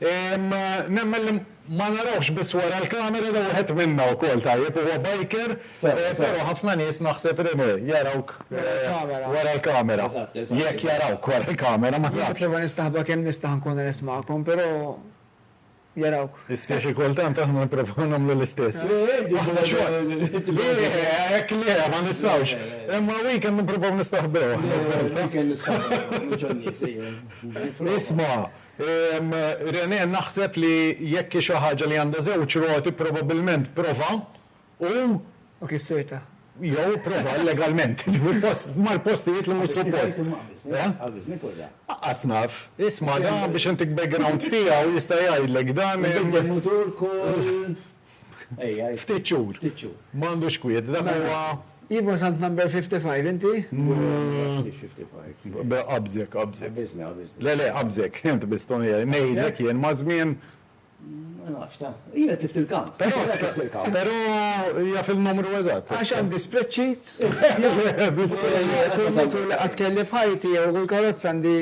Nemmen li ma narawhx biss wara l-kamera li wieħed minna wkoll tajjeb huwa biker, però ħafna nies naħseb li jarawk wara l-kamera. Jekk jarawk wara l-kamera ma nafx. Nipprova nistaħba kemm nista' nkun onest magħkom, però jarawk. Istess xi kultant aħna nipprovaw nagħmlu l-istess. Aħna xogħol. Le, hekk le, ma nistgħux. Imma weekend nipprovaw nistaħbew. Weekend nistaħbew, mhux għan-nies, ejja. Isma', Renee naħseb li jekk hi xi ħaġa li għandha żewġ roti probabbilment prova u. U kissirtha. Jew ipprova illegalment fil-post mal-postijiet li mhux suppost. Qabbiżni fuq dan. Aqqas naf. Isma' dan biex intik background tiegħu jista' jgħidlek dan. Inbidel mutur kull Ftit xhur. Ma għandux kwiet. Dak huwa. Iva sant number 55 inti? Qabżek, qabżek. Le, le, qabżek. Int biss toni jgħid. Ngħidlek jien maż-żmien. Ma nafx ta. Hija tift il-kamp. Però jaf il-numru eżatt. Għax għandi spreadsheet. Kull mutur li qatt kelli f'ħajti jew kull karozza għandi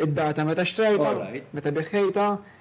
id-data meta xtrajtha, meta biħħejtha.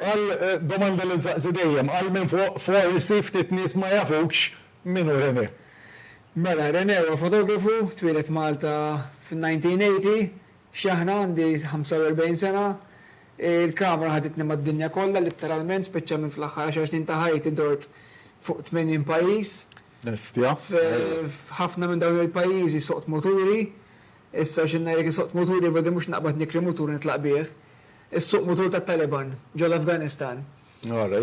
Għal domanda li nsaqsi dejjem, għal minn fuq forsi ftit nies ma jafukx min hu René. Mela, René huwa fotografu, twieled Malta fin-1980, x'aħna għandi 45 sena. Il-kamera ħaditni mad-dinja kollha litteralment, speċjalment fl-aħħar għaxar snin ta' ħajti dort fuq 80 pajjiż. Bestia. F'ħafna minn dawn il-pajjiżi suqt muturi, issa xi ngħidlek insuq muturi badi mhux naqbad nikri mutur nitlaq bih. Is-suq mutur tat-Taliban ġol-Afganistan.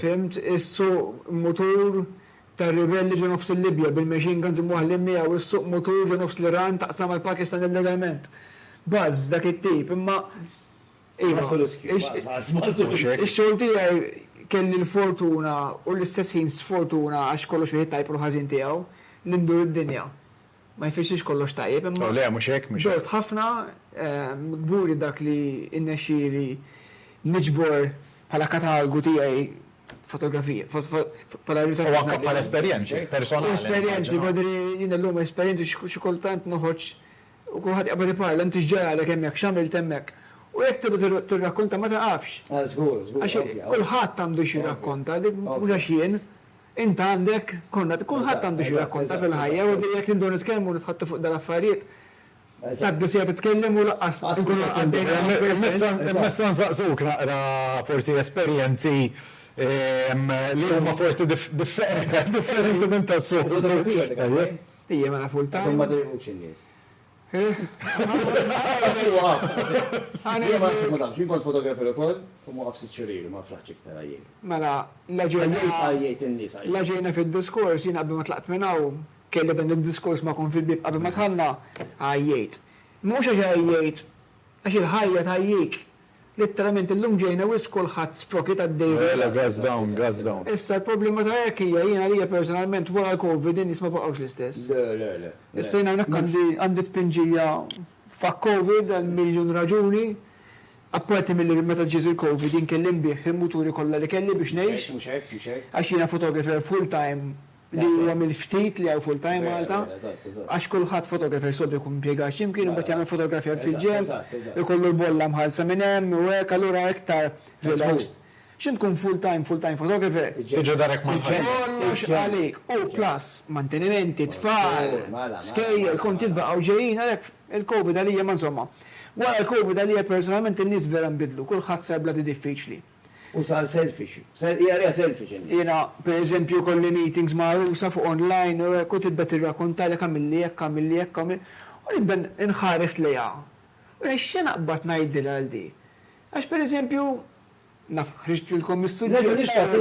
Fhimt? Is-suq mutur tar-ribelli ġo nofs il-Libja bil-machine guns imwaħħlin miegħu, is-suq mutur ġo nofs l-Iran taqsam mal-Pakistan illegalment. Buzz dak it-tip, imma iva, ix-xogħol tiegħi kelli l-fortuna u l-istess ħin sfortuna għax kollox fih it-tajb u l-ħażin tiegħu, li ndur id-dinja. ma jfissirx kollox tajjeb imma dort ħafna, kburi dak li rnexxieli niġbor bħala katalgu tiegħi fotografija, bħala ritratt. U anke bħala esperjenzi personali. U esperjenzi, jien illum esperjenzi xi kultant noħroġ u kulħadd jaqbad iparla inti x'ġaralek hemmhekk, x'għamilt hemmhekk. U jekk tibda tirrakkonta ma taqafx. Għax kulħadd għandu xi jirrakkonta, mhux għax jien, Int għandek, konna, kulħadd għandu xi jirrakkonta fil-ħajja u jekk inbdew nitkellmu u nitħaddtu fuq dal-affarijiet, tgħaddi siegħa titkellem u lanqas inkunu għaddejna minn persuna. Immessa nsaqsuk naqra forsi esperjenzi li huma forsi differenti minn tas-soltu. Ija mela full time. Imma ma dejqux in-nies. Mela, la ġejna fid-diskors, jiena qabel ma tlaqt minn hawn, kelli dan id-diskors magħkom fil-bieb qabel ma dħalna, għajjejt. Mhux għax għajjejt, għax il-ħajja tgħajjik. Litteralment illum ġejna wisq kulħadd sproki ta' dejriet. Mela gas down, gas down. Issa l-problema ta' hekk hija jien għalija personalment wara l-Covid in-nies ma baqgħux l-istess. Le, le, le. Issa jien hawnhekk għandi għandi tpinġija fuck Covid għal miljun raġuni. Apparti milli meta ġiet il-Covid jien kelli nbigħ il-muturi kollha li kelli biex ngħix. Mhux hekk, mhux hekk, mhux hekk. Għax jiena photographer full time. li huwa mill-ftit li hawn full-time Malta, għax kulħadd photographer soltu jkun impjegat xi mkien imbagħad jagħmel fotografjar fil-ġenb, ikollu l-bolla mħallsa minn hemm u hekk allura iktar relaxed. X'int tkun full-time, full-time photographer. Tiġi darek mal-ħajja. Kollox għalik u plus mantenimenti, tfal, skejjel, kontijiet baqgħu ġejjin għalhekk il-Covid għalija ma insomma. Wara l-Covid għalija personalment in-nies vera nbidlu, kulħadd sar bla idea diffiċli. U sar selfish. Sar hija hija selfish in. Jiena per eżempju jkolli meetings ma' għarusa fuq online u hekk u tibda tirrakuntalek għamilli hekk għamilli hekk u nibda nħares lejha. U jgħid x'se naqbad ngħidilha għal di. Għax per eżempju naf ħriġtilkom mis-suġġett. Le mhux każ.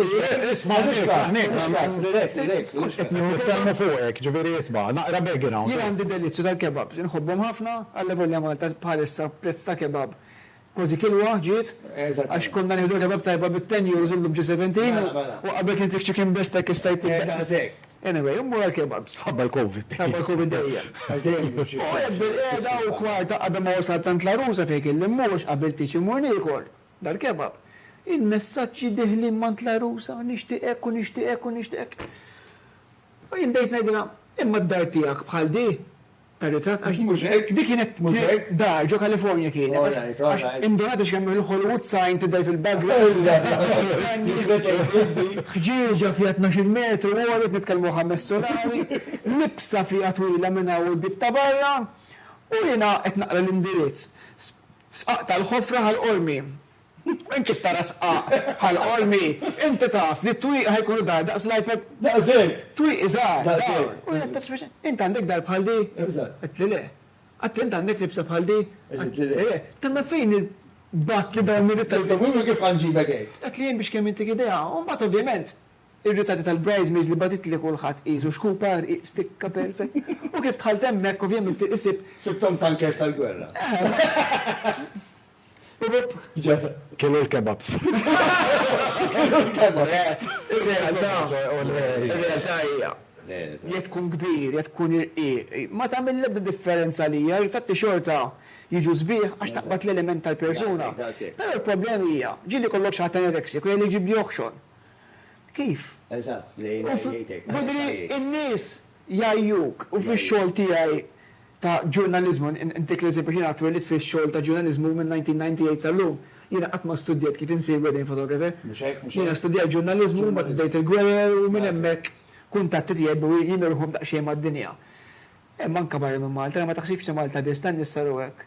Isma' mhux każ. Mhux każ. Relax, relax. Kont qed nieħu. Nitkellmu fuqek, ġifieri isma' naqra background. Jien għandi delizzju tal-kebabs. Inħobbhom ħafna, allavolja Malta bħalissa prezz ta' kebab Kważi kilwa ġiet. Eżatt. Għax konna nieħdu kebab tajba bi ten euros illum ġie seventeen. Mela, mela. U qabel kien fik chicken bestek issa jtik daqs. Eh, daqshekk. Anyway, immur għall-kebabs. Ħabba l-Covid dejjem. Ħabba l-Covid dejjem. Għax dejjem jieħu xi. U qiegħed bil-qiegħda u kwarta qabel ma wasalt għand La Rusa fejn kelli mmur għax qabilt tgħidx immur niekol dal-kebab. Il-messaġġi deħlin m'għand La Rusa, nixtieq hekk u nixtieq hekk u nixtieq hekk. U jien bdejt ngħidilha, imma d-dar tiegħek bħal di? Tarizzat għax. Mhux hekk? Dik kienet dar ġo California kienet. All right, all right. Indunat għax kemm il-Hollywood sign tidher fil-background. Ħġieġa fiha tnax-il metru għolja, nitkellmu ħames solari, libsa fiha twila minn hawn u l-bieb ta' barra, u jiena qed naqra l-indirizz. Sqaqt għall-ħofra ħal qormi. Int kif tara sqaq bħal qormi, inti taf li t-twieqi ħa jkunu dar daqs l-iPad? Daqshekk! Twieqi żgħar, dawn! U jien għedtilha sempliċement, Int għandek dar bħal di? Għedtli le. Għedtli int għandek libsa bħal di? Għedtli le. Temma fejn il-batt li dawn ir-ritratti. Għedtilha mhux kif ħa nġibek hekk. Għedtli jien biex kemm intik idea. U mbagħad ovvjament ir-ritratti tal-bridesmaids li bagħtitli kulħadd qisu xkupa, rqiq, stikka, perfect. U kif dħalt hemmhekk ovvjament isib. Sibthom tankers tal-gwerra. Kienu l-kebabs. Kienu l-kebabs. Ir-realtà hija, jekk tkun kbir, jekk tkun irqiq, ma tagħmel l-ebda differenza għalija, ritratti xorta jiġu sbieħ għax taqbad l-element tal-persuna. Però l-problema hija, ġieli jkollok xi ħadd anorexic u jgħidli jġibli oħxon. Kif? Eżatt, jgħidlek. Jgħidlek. Jidhri in-nies Jgħajjuk, u fix-xogħol tiegħi ta' ġurnaliżmu, intik l-eżempju x'jiena twellidt fix-xogħol ta' ġurnaliżmu minn 1998 sal-lum, jiena qatt ma studjajt kif insir wedding photographer. Mhux hekk, mhux hekk. Jiena studjajt ġurnaliżmu, mbagħad bdejt il-gwerer u minn hemmhekk kuntatti tiegħi bdew jimilħu daqsxejn mad-dinja. Hemm anke barra minn Malta, ma taħsibx li Malta biss, tan-nisa hu hekk.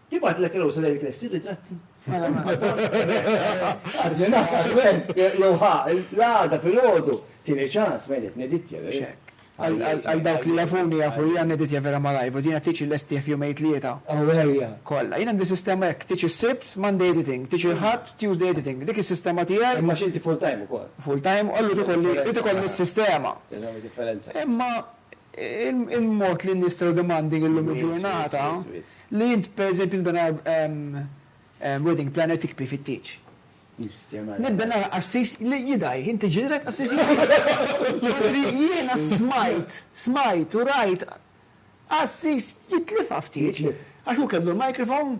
Tibgħatlek il-għosa lejn il-knessi b'ritratti. Jew ħa, l-għada fil-ħodu, tieni ċans, ma jrid neditja. Għal dawk li jafuni jafu li għan neditja vera ma lajvu, dina tiċi l-estija f'jum ejt li jeta. Għawelja. Kolla, jina għandi sistema jek, tiċi s-sibt, Monday editing, tiċi l-ħat, Tuesday editing, dik il-sistema tijaj. Imma xinti full time u kol. Full time, għallu tikolli, tikolli s-sistema. Imma Il-mod li n-nies tell demanding illum il-ġurnata, li int per eżempju nbena wedding planner tikpi fit-tieġ. Nibena qassis li jidgħi, inti ġilek qassis jidgħi. Jiena smajt, smajt u rajt qassis jitlifha f'tieġ għax hu kellu l-microphone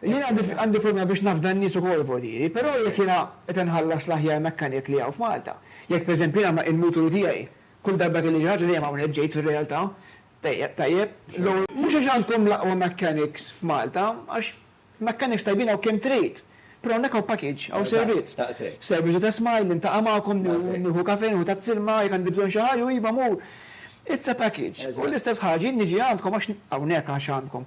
Jien għandi problema biex nafda n-nies ukoll voljieri, però jekk jiena qed inħallas l-aħjar mechanic li hawn f'Malta, jekk pereżempju jiena ma' il-muturi tiegħi kull darba kelli xi ħaġa dejjem hawnhekk ġejt fir-realtà, tajjeb, tajjeb, l-ewwel mhux għax għandkom l-aqwa mechanics f'Malta, għax mechanics tajbin hawn kemm trid, però hawnhekk hawn package, hawn servizz, servizz u tesma' illi ntaqa' magħkom, nieħu kafè, nieħu tazz ilma, jekk għandi bżonn xi ħaġa, u iva mur. It's a package. U l-istess ħaġa jien niġi għandkom għax hawnhekk għax għandkom.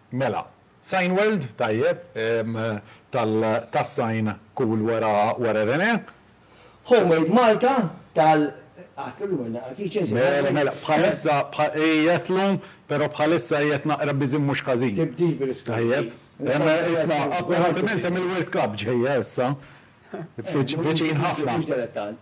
Mela. Sign World, tajjeb, tal tas-sign cool wara wara Renee. Homemade Malta tal Għad illum għandna Achice Sign World. Mela mela, bħalissa bħa qiegħed lum, però bħalissa qiegħed naqra busy mhux ħażin. Tibdix bil-iskużi. Tajjeb. Imma isma', apparentement hemm il-World Cup ġejja issa. Viċin ħafna. Mhux daqshekk tant.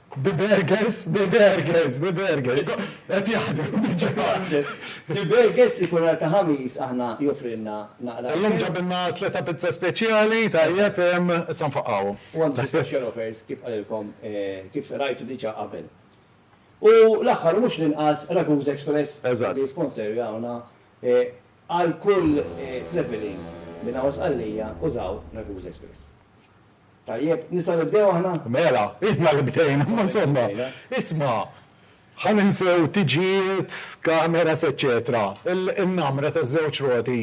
The Burgers, The Burgers, The Burgers. Qed jaħdem diġà. The Burgers li kull nhar ta' Ħamis aħna joffrilna naqra. Illum ġabilna tlieta pizza speċjali, tajjeb, issa nfaqqgħu. U għandu special offers kif qalilkom, kif rajtu diġà qabel. U l-aħħar u mhux l-inqas Raguse Express li jisponserjawna għal kull travelling minn hawn Sqallija użaw Raguse Express. Tajjeb, nistgħu nibdew aħna? Mela, isma' li bdejna, imma insomma, isma', ħa ninsew tiġijiet, cameras eċċetera. Il-namra taż-żewġ roti,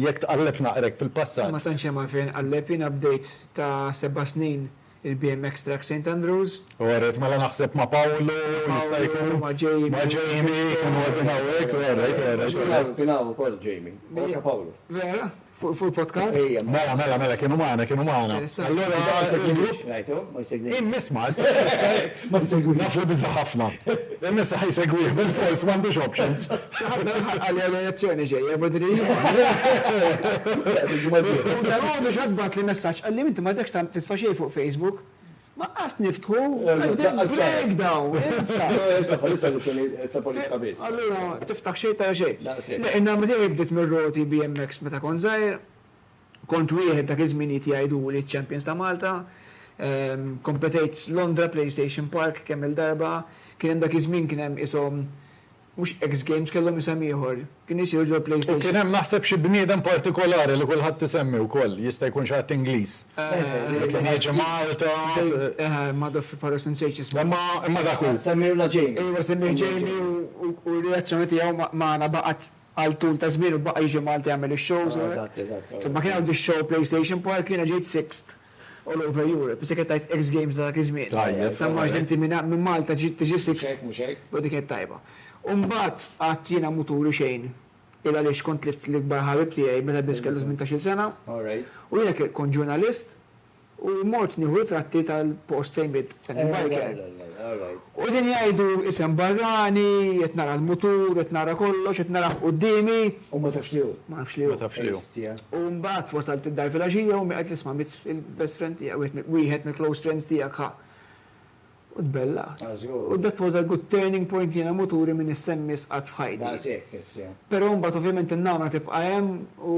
jekk tqalleb naqra hekk fil-passat. Ma tantx hemm għalfejn inqalleb, jiena bdejt ta' seba' snin il-BMX Track Saint Andrews. U rajt mela naħseb ma' Pawlu, jista' jkun, ma' Jamie, kienu qegħdin hawnhekk, u rajt, u rajt. Kien hawn ukoll Jamie, u anke Pawlu. Vera? Fuq il-podcast? Ejja. Mela, mela, mela, kienu magħna, kienu magħna. Allura il-grupp. Immiss ma, ma jsegwi. Naf li biża ħafna. Immiss ħaj segwih bil-fors m'għandux options. Ħafna ħaqqal l-elezzjoni ġejja budri. Dawn biex għadbat li messaġġ qalli inti ma dekx titfa' xejn fuq Facebook. Ma qas niftħu qegħdin breakdown, insa! Issa bħalissa elezzjoni, issa politika biss. Allura tiftaħ xejn tara xejn. Daqshekk. Le, in-nagħma tiegħi bdiet mir-roti BMX meta kont żgħir. Kont wieħed dak iż-żminijiet jgħiduli ċ-champions ta' Malta. Kompetejt Londra, PlayStation Park kemm-il darba. Kien hemm dak iż-żmien kien hemm qishom Mhux X Games, kellhom isem ieħor. Kienu jsiru ġol-PlayStation. U kien hemm naħseb xi bniedem partikolari li kulħadd isemmi wkoll, jista' jkun xi ħadd Ingliż. Li kien jiġi Malta. Ma daf fi Paros insejtx ismu. Imma dak hu. Semmejna Jamie. Ejwa semmih Jamie u r-reazzjoni tiegħu magħna baqgħet għal tul ta' żmien u baqa' jiġi Malta jagħmel ix-shows. Eżatt, eżatt. Imma kien hawn dix-show PlayStation Park jiena ġejt sixt. All over Europe. Issa kien tajt X Games ta' dak iż-żmien. Tajjeb. Sa March din ti minn minn Malta ġiet tiġi sixth. Mhux hekk, mhux hekk. Però dik kienet tajba. U mbagħad qatt jiena mhu turi xejn il għaliex kont tlift l-ikbar ħabib tiegħi meta biss kellu tmintax-il sena. All right. U jiena kont ġurnalist u mort nieħu ritratti tal-post fejn miet Il-biker. U qegħdin jgħidu isem barrani, qed nara l-mutur, qed nara kollox, qed narah quddiemi. U ma tafx li hu. Ma nafx li hu. Ma tafx li hu. Hestia. U mbagħad wasalt id-dar filgħaxija u ommi qed tisma' mill-best friend tiegħek, wieħed mill-close friends tiegħek ħa. U tbellgħet. Ah, żgur. U that was a good turning point jiena muturi minn issa in miss qatt f'ħajti. Daqshekk issa. Però mbagħad ovvjament in-nagħma tibqa' hemm u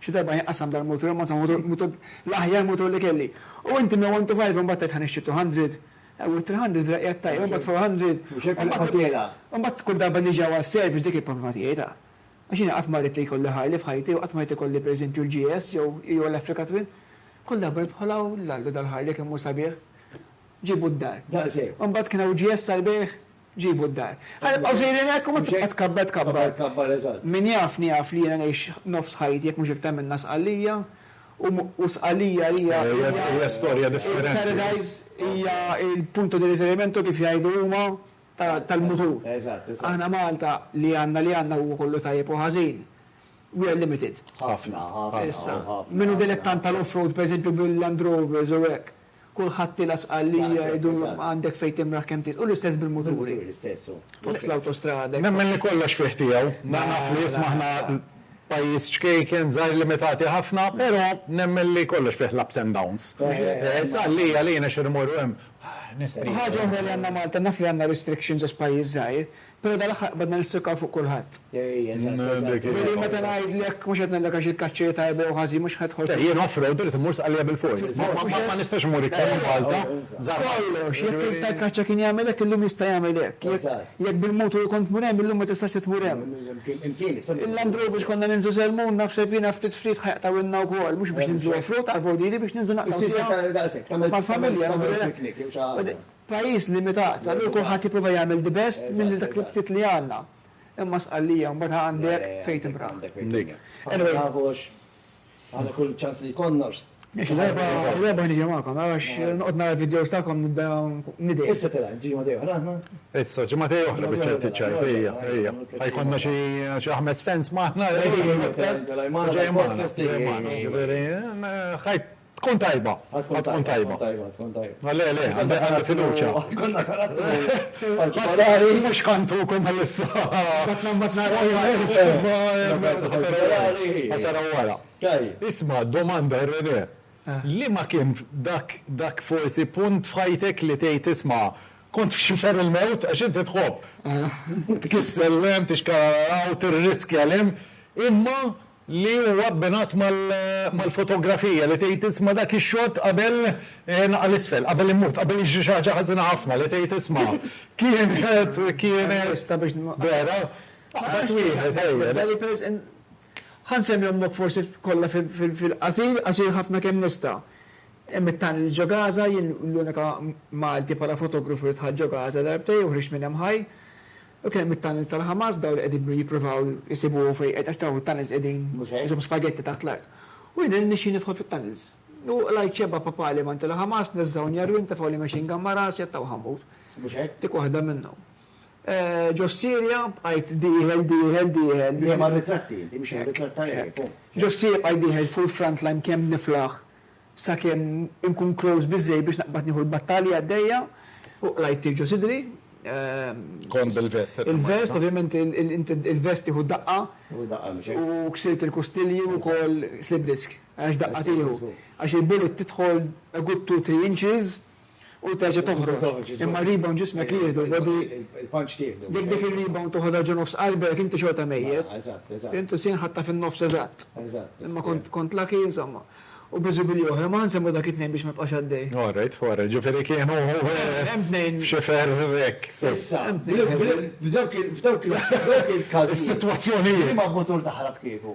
Xi darba jien qassamt dal-mutur imma insomma mutur mutur l-aħjar mutur li kelli. U inti minn one to five imbagħad tgħid ħa nixtri two hundred. Ew it-three hundred vera qiegħed tajjeb imbagħad four hundred. Mhux hekk il-qagħad tiegħi. Imbagħad kull darba niġi hawn għas-service dik il-problema tiegħi ta'. Għax jiena qatt ma ridt li jkolli Harley f'ħajti u qatt ma ridt ikolli per eżempju l-GS jew jew l-Africa Twin. Kull darba nidħol hawn l-Alla dal-Harley kemm hu sabiħ. Ġiebu d-dar. Daqshekk. Imbagħad kien hawn GS għall-bejgħ. Ġibu d-dar. Ħa nibqgħu sejrin hekk u ma tibqa' tkabbar tkabbar. Min jafni jaf li jiena ngħix nofs ħajti jekk mhux iktar minnha Sqallija u Sqallija hija il-paradise, hija l-punto di riferimento kif jgħidu huma tal-mutur. Aħna Malta li għandna li għandna huwa kollu tajjeb u ħażin. We are limited. Issa, min hu dilettant tal-off-road pereżempju bil-Land Rovers u hekk, Kulħadd tila' Sqallija jgħidu għandek fejn timraħ kemm titla'. U l-istess bil-muturi. Tħoss l-awtostrada. Nemmen li kollox fih tiegħu. Naf li isma' aħna pajjiż ċkejken, żgħir limitati ħafna, però nemmen li kollox fih l-ups and downs. Sqallija għalina xi nmorru hemm, ah, nistrieħu. Ħaġa oħra li għandna Malta, naf li għandna restrictions għax pajjiż żgħir, Pero dan l-aħħar qbadna nistrokaw fuq kulħadd. Ej, eżatt, eżatt. Veri meta ngħidlek, mhux qed ngħidlek għax il-kaċċa hi tajba jew ħażin, mhux qed tidħol fil-. Le, jien off road irid immur Sqallija bil-fors. Ma nistax immur iktar minn Malta. Kollox, jekk il-btajj tal-kaċċa kien jagħmel hekk, illum jista' jagħmel hekk. Jekk bil-mutur kont tmur hemm, illum ma tistax tmur hemm. Il-Land Rover biex konna ninżlu Selmun, naħseb jiena ftit ftit ħa jaqtgħuilna wkoll, mhux biex ninżlu off road, għall-vojt, jiġifieri biex ninżlu naqtgħu. Mal-familja. Pajjiż limitat, allura kulħadd jipprova jagħmel the best minn dak il-ftit li għandna. Imma Sqallija mbagħad għandek fejn timraħ. Anyway. Kull ċans li jkollna. Xi darba ħa niġi magħkom għax noqgħod nara l-vidjos tagħkom nibda nidgħi. Issa tilgħin, tiġi ġimgħatej oħra aħna? Issa ġimgħatej oħra biċċert iċ-ċajt, ejja, ejja. Ħa jkollna xi ħames fans magħna. Ejja, ejja, ejja. Ġej magħna. Ħajt Tkun tajba. Ħa tkun tajba. Ħa tkun tajba. Tkun tajba. Tkun tajba. Ma le, le, għandi għandi fiduċja. Jkollna karattru partikolari. Mhux ħa ntukom għal issa. Batna mbagħad naraw. Ħa taraw wara. Tajjeb. Isma' domanda, René. Liema kien dak forsi punt f'ħajtek li tgħid isma' kont f'xifer il-mewt għax inti tħobb tkissel 'l hemm, tixkarararaw, tirriskja 'l hemm, imma, li huwa abbinat mal-fotografija li tgħid isma' dak ix-xott qabel naqa' 'l isfel, qabel imut, qabel jiġri xi ħaġa ħażina ħafna li tgħid isma' kienet, kienet, vera, aqbad wieħed ejja. Ħa nsemmi ommok forsi kollha fil-qasir, qasir ħafna kemm nista'. Hemm it-tunnels ġo Gaza, jien l-unika Malti bħala fotografu li dħalt ġo Gaza darbtej u ħriġt minn hemm ħaj. U kien hemm it-tunnels tal-Hamas, dawn li qegħdin jippruvaw isibu fejn qed għax dawn it-tunnels qegħdin ishom spagetti taħt l-art. U jiena rnexxieli nidħol fit-tunnels. U qlajt xebba papali mant il-Hamas, neżżgħuni għar-rim, tefgħuli machine gun ma' rasi, għattawh ammut. Dik waħda minnhom. Ġo s-Sirja bqajt dieħel, dieħel, dieħel. Dejjem għar-ritratti inti, mhux għar-ritratt tal-għerien. Ġo s-Sirja bqajt dieħel fuq il-front line kemm niflaħ. sakemm inkun close biżżejjed biex naqbad nieħu l-battalja għaddejja, u qlajt tirġo sidri. Kont bil-vest qed timmaniġa? Il-vest, ovvjament il-vest tieħu daqqa. Tieħu daqqa mhux hekk? U ksirt il-kustilji u wkoll slip disc, għax daqqa tieħu. Għax il-bullet tidħol a good two, three inches U terġa' toħroġ. Imma r-rebound ġismek jieħdu, body. Il-punch tieħdu. Jekk dik ir-rebound toħodha ġo nofs qalbek, inti xorta mejjet. Eżatt, eżatt. Fhimt, is-sien ħadtha fin-nofs eżatt. Eżatt. Imma kont lucky, insomma. U biżibili oħra, ma ħansemmu dak it-tnejn biex ma jibqax għaddej. All right, all right. Ġifieri kienu. Hemm tnejn. F'xifer hekk. Issa, hemm tnejn. F'dawk il-każijiet. F'dawk il-każijiet. Is-sitwazzjonijiet. Liema mutur taħrab kieku?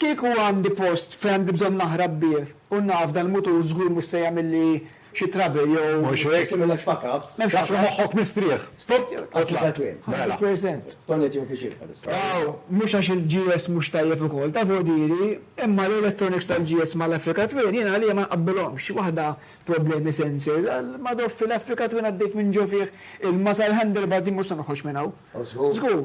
Kieku għandi post fejn għandi bżonn naħrab bih u naf dan il-mutur żgur mhux se jagħmilli xi trouble jew. Mhux hekk? M'hemmx fuck ups. Taf li moħħok mistrieħ. Stop jew tla'. Mela. Toilet jew kitchen bħalissa. Aw, mhux għax il-GS mhux tajjeb ukoll, taf hu diri, imma l-electronics tal-GS mal-Africa Twin jien għalija ma nqabbilhomx. Waħda problemi sensors, għall-madò fil-Africa Twin għaddejt minn ġo fih ilma sal-handlebar din mhux se noħroġ minn hawn. Żgur.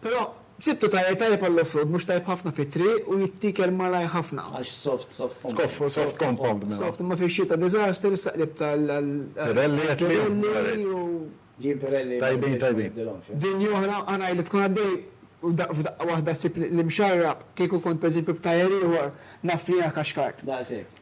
Però sibtu tajr tajjeb għall-offroad mhux tajjeb ħafna fit-triq u jittiekel malajr ħafna. Għax soft, soft compound. Soft, soft compound mela. Soft, imma fix-xita disaster, issa qlibt għal għal Pirelli qed tgħid? Pirelli u. Jien Pirelli ma Tajbin, nibdilx, ma tajbin. nibdilhomx, eh. Dinja oħra, ara illi tkun għaddej u daqq f'daqqa waħda ssib l-imxarrab, kieku kont pereżempju b'tajr ieħor naf li inha kaxkart. Daqshekk.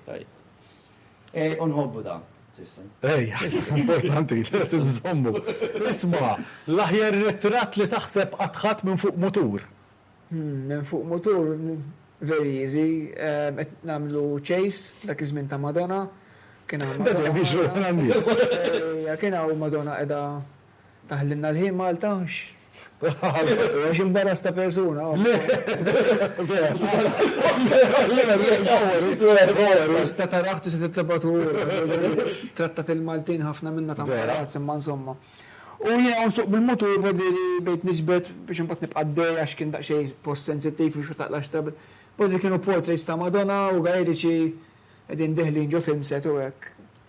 Tajjeb. Ej, u nħobbu dan. Ej, importanti, lest nżommu. Isma, l-aħjar ritratt li taħseb qatt ħadt minn fuq mutur? Minn fuq mutur, very easy, qed nagħmlu chase, dak iż-żmien ta' Madonna, kien hawn. Kien hawn Madonna qiegħda Taħlilna l-ħin Malta? Għax imbarras ta' persuna. Le! Tista' tarah, tista' titlobha tmur. Trattat il-Maltin ħafna minna ta' imbarazz, imma insomma. U jiena u nsuq bil-mutur b'għodiri bdejt niġbed biex imbagħad nibqa' għaddej għax kien daqsxejn post sensittiv biex ma taqlax trouble. B'għodiri kienu portraits ta' Madonna u gajeriċi qegħdin deħlin ġo film set u hekk.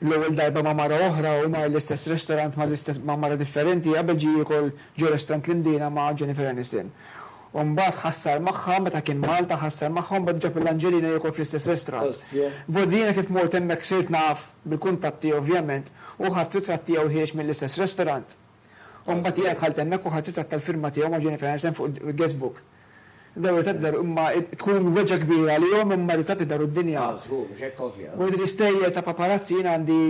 L-ewwel darba ma' mara oħra u mar l-istess restorant ma' l-istess ma' mara differenti qabel ġie jiekol ġo restorant l-Imdina ma' Jennifer Aniston. U mbagħad ħassar magħha meta kien Malta ħassar magħha u mbagħad ġab l-Angelina jiekol fl-istess restorant. Vot jiena kif mort hemmhekk sirt naf bil-kuntatti ovvjament u ħadt ritratt tiegħu ħiereġ mill-istess restorant. U mbagħad hija dħalt hemmhekk u ħadd ritratt tal-firma tiegħu ma' Jennifer Aniston fuq il-guest book. Dawn ir-ritratti daru imma tkun weġgħa kbira għalihom imma r-ritratti daru d-dinja. Ah, żgur, mhux hekk ovvja. Wara din l-isterja ta' paparazzi jien għandi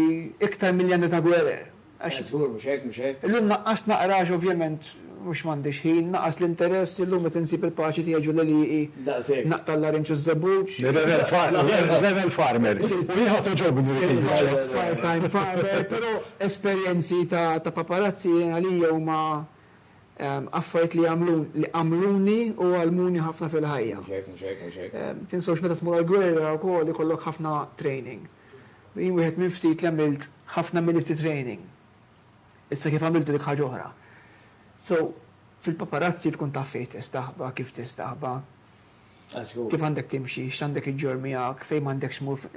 iktar milli għandi ta' gwerer. Għax. Eh, żgur, mhux hekk, mhux hekk. Illum naqqast naqra għax ovvjament mhux m'għandix ħin, naqas l-interess, illum qed insib il-paċi tiegħi ġo l-għelieqi. Daqshekk. Naqta' l-larinġ u ż-żebbuġ. Rebel farmer. Rebel farmer. U jien ħadt għoġobni. Part-time farmer, però. Esperjenzi ta' ta' paparazzi jien għalija huma affarijiet li għamlun li għamluni u għallmuni ħafna fil-ħajja. Mhux hekk, mhux hekk, mhux hekk. Tinsewx meta tmur għall-gwerra wkoll ikollok ħafna training. Jien wieħed minn ftit li għamilt ħafna military training. Issa kif għamiltu dik ħaġa oħra. So, fil-paparazzi tkun taf fejn tistaħba, kif tistaħba. Kif għandek timxi, x'għandek iġġorr miegħek, fejn m'għandekx tmur.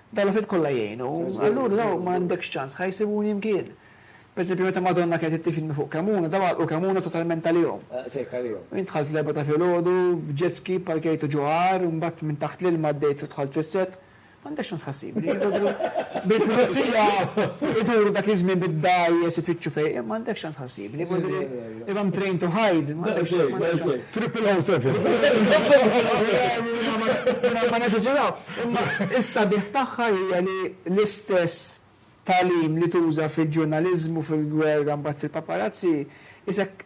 Dawn l-affarijiet kollha jgħinu. Allura dawn m'għandekx ċans, ħa jsibuni mkien. Pereżempju, meta Madonna kienet qed tifidni fuq Kemuna, dawn għalqu Kemuna totalment għalihom. Jien dħalt fl-erbgħa ta' filgħodu, b'jet ski pparkejtu ġo għar, imbagħad minn taħt l-ilma għaddejt u dħalt fis-set, M'għandekx tant tħassib. Bil-pulizija iduru dak iż-żmien bid-dgħajjes ifittxu fejn, imma għandekx tant tħassib. If I'm trained to hide, Triple O seven. Ma neżaġeraw. Imma issa bih tagħha hija li l-istess tagħlim li tuża fil-ġurnaliżmu, fil-gwerra mbagħad fil-paparazzi, isek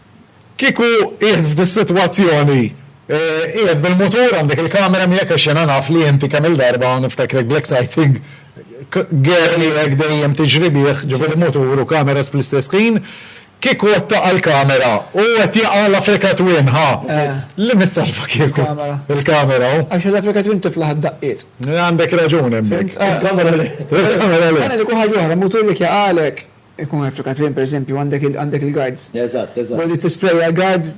Kieku qiegħed f'dis-sitwazzjoni, qiegħed bil-mutur, għandek il-kamera miegħek għax jiena naf li inti kemm-il darba niftakrek bl-exciting girl tiegħek dejjem tiġri bih, ġifieri mutur u kameras fl-istess ħin, kieku qed taqa' l-kamera u qed jaqa' l-Africa Twin, ħa! Li min salva kieku? Il-kamera. Il-kamera. Għax l-Africa Twin tiflaħ id-daqqiet. Għandek raġun hemmhekk. Il-kamera le. Il-kamera le. Għana li jkun ħaġa oħra, mutur jekk jaqagħlek. Ikun effekat fejn pereżempju għandek għandek il-guards. Eżatt, eżatt. B'hekk tisprejja l-guards,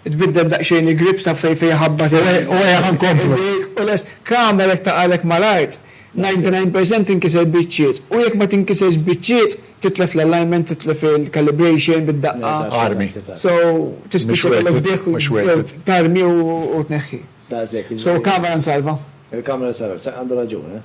tbiddel daqsxejn il-grips taf fejn fejn iħabbat il-. U hekk inkomplu. U lest. Kamera jekk taqgħalek mal-art, 99 percent tinkiser biċċiet. U jekk ma tinkiserx biċċiet, titlef l-alignment, titlef il-calibration bid-daqqa. Armi. So, tispiċċa tagħmel fdejh u. Mhux worth it. Tarmi u tneħħi. Daqshekk. So, kamera nsalva. Il-kamera nsalva. Għandha raġun, eh?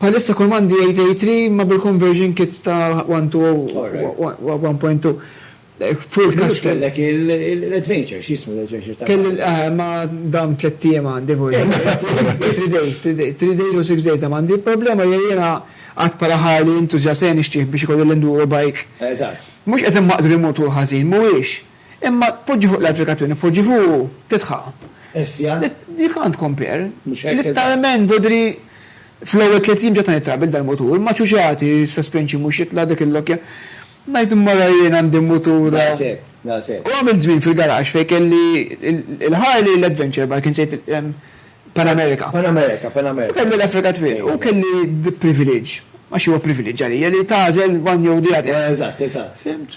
Bħalissa kull m'għandi 883 imma bil-conversion kit ta' 1 to 1.2 full custom. Mhux kellek l-adventure, x'jismu l-adventure ta' qabel? Kelli, ma dam tlett ijiem għandi vojt. Three days, three days. Three days u six days dam għandi. Il-problema hija jiena għad bħala Harley enthusiast ejja nixtrih biex ikolli l-enduro bike. Eżatt. Mhux qed immaqdru jmur tul ħażin, mhuwiex. Imma tpoġġi fuq l-applikazzjoni, tpoġġi fuq u titħaq. Essja. You can't compare. Mhux hekk. Litteralment tidri fl-ewwel tliet ijiem ġa tani trabil dal-mutur, ma' ċuċati, suspension mhux jitla' dik il-lokkja. Ngħid immorra jien għandi mutur. Daqshekk, daqshekk. U għamilt żmien fil-garaxx fejn kelli l-Harley, l-Adventure Bike, insejt Pan America. Pan America, Pan America. U kelli l-Africa Twin. U kelli the privilege, għax huwa privilege għalija, li tagħżel one jew the other. Eżatt, eżatt. Fhimt?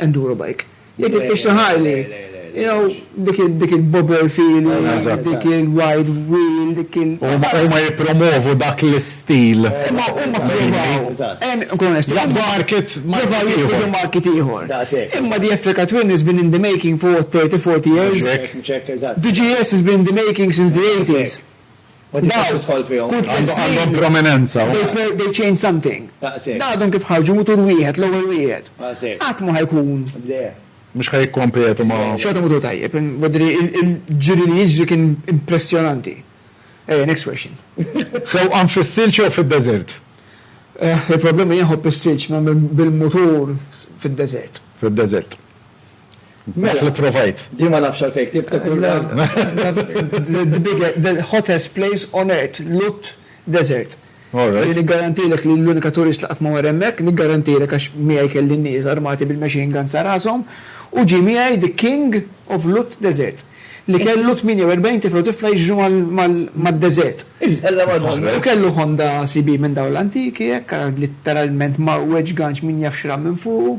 Enduro bike. Li titfix xi Harley. You know, dik il-bobber feeling, dik il-wide wheel, dik il-. Huma jippromwovu dak l-istil. Imma huma ppruvaw. Nkunu onesti. Jaqbdu market ieħor. Jaqbdu market ieħor. Daqshekk. Imma the Effica Twin has been in the making for what, 30, 40 years? Mhux hekk, mhux hekk, eżatt. The GS has been in the making since the 80s. Għandhom prominenza. They change something. Għadhom kif ħarġu mutur wieħed, l-ewwel wieħed. Qatt ma ħajkun. Mhux ħa jikkompetu ma'. Xorta mutur tajjeb. Il-ġiri li jiġri kien impressjonanti. Ejja, next question. Sewqan fis-silġ jew fid-deżert? Il-problema jien nħobb is-silġ, ma bil-mutur fid-deżert. Fid-deżert. Naf li provajt. Jien ma nafx għalfejn ktibt Kurla. The hottest place on earth, Lut Desert. Alright. Niggarantijlek li l-unika turist li qatt ma mar hemmhekk, niggarantijlek għax miegħi kelli n-nies armati bil-machine guns sa rashom, u ġie miegħi the king of Lut Desert, li kellu 48 tifel u tifla jiġru mad-deżert. U kellu Honda CB minn dawn l-antiki hekk, litteralment mgħawweġ ganx min jaf x'ra minn fuqu.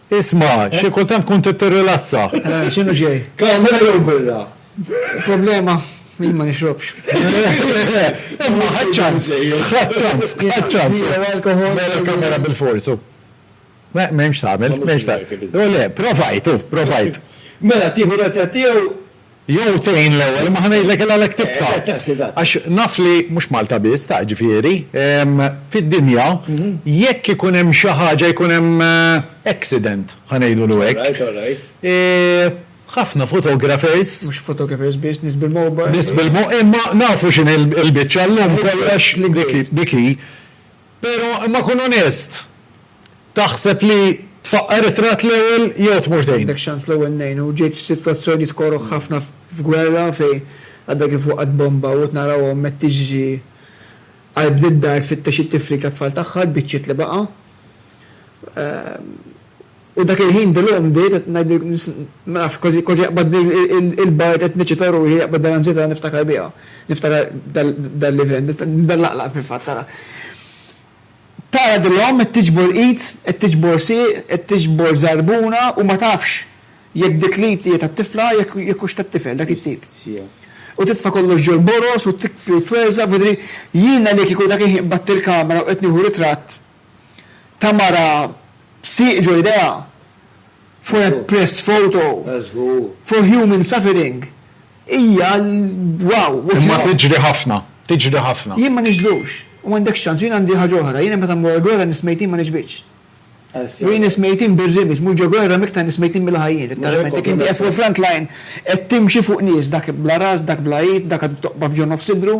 Isma', xi kultant tkun trid tirrilassa. X'inhu ġej? Kamra jew birra? Il-problema, jien ma nixrobx. Imma ħadd ċans, ħadd ċans, ħadd ċans. Zero alcohol. Mela kamra bilfors, u. M'hemmx tagħmel, m'hemmx tagħmel. Le, provajt, u, provajt. Mela tieħu retratt tiegħu Jew tgħin l-ewwel imma ħa ngħidlek il-għalhekk tibqa'. Għax naf li mhux Malta biss ta' ġifieri, fid-dinja jekk ikun hemm xi ħaġa jkun hemm accident ħa ngħidulu hekk, ħafna photographers, Mhux photographers biss, nies bil-mobile. Nies bil-mo, imma nafu x'inhi l-biċċa llum kollox dik hi. Pero, imma kun onest, taħseb li tfaqqar it-tratt l-ewwel jew tmur tgħin? Għandek xans l-ewwel ngħin u ġejt f'sitwazzjonijiet koroh ħafna f'gwerra fejn għadha kif waqgħet bomba u qed naraw omm qed tiġri għal bni d-dar tfittex it-tifril tat-tfal tagħha, l-biċċiet li baqa'. U dak il-ħin dil-omm bdejt qed ngħidilkom nis, ma nafx, kważi kważi jaqbadni l-bard qed niċċita ruħi, jaqbad dan l-anzjetà li niftakar biha. Niftakar dal-event, nibda nlaqlaq fil-fatt ara. Tara dil-omm qed tiġbor id, qed tiġbor sieq, qed tiġbor żarbuna u ma tafx jekk dik l-id hija tat-tifla jekk hux tat-tifel dak it-tip. U titfa' kollox ġol boroż u tikbi u twerżaq, f'idri. Jiena li kieku dak il-ħin qbadt il-kamera u qed nieħu ritratt, ta' mara b'sieq ġo jdejha for a press photo for human suffering hija wow. Imma tiġri ħafna, tiġri ħafna. Jien ma nixbhux. U m'għandekx ċans. Jien għandi ħaġa oħra. Jiena meta mmur għall-gwerra nies mejtin ma nixbitx. Jien nies mejtin bir-rimedj mhux ġo gwerra m'iktar nies mejtin milli ħajjin. Letteralment jekk inti qiegħed fuq il-front line qed timxi fuq nies dak bla ras, dak bla id, dak għadu toqba' f'ġo nofs idru.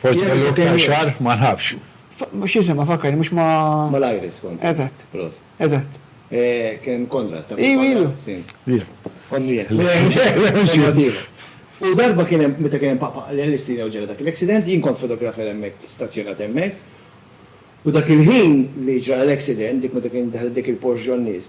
Forsi kellu iktar xagħar, ma nafx. X'jisimha fakkarni mhux ma'. Mal-Iris kont. Eżatt. Prost. Eżatt. Kien Konrad. Iva, iva. U darba kien hemm meta kien hemm Papa l-Istina u ġara dak l-accident, jien kont fotografer hemmhekk stazzjonat hemmhekk. U dak il-ħin li ġara l-accident, dik meta kien daħlet dik il-Porsche ġon-nies,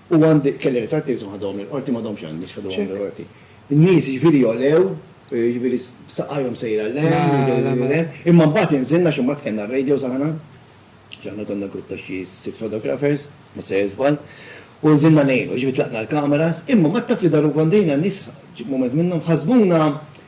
U għandi, kelli ritratti iżhom ħadhom mill-Qorti, m'għadhomx għandi għax ħadhom mill-Qorti. Nies jiġifieri jogħlew, jiġifieri b'saqajhom sejra 'l hemm, imma mbagħad inżilna xi mbagħad kellna r-radios aħna, għax aħna konna grupp ta' xi sitt photographers, ma se żball, u nżilna ngħinu, jiġifieri tlaqna l-cameras, imma mbagħad taf li daru kontrina, n-nies, mument minnhom, ħasbuna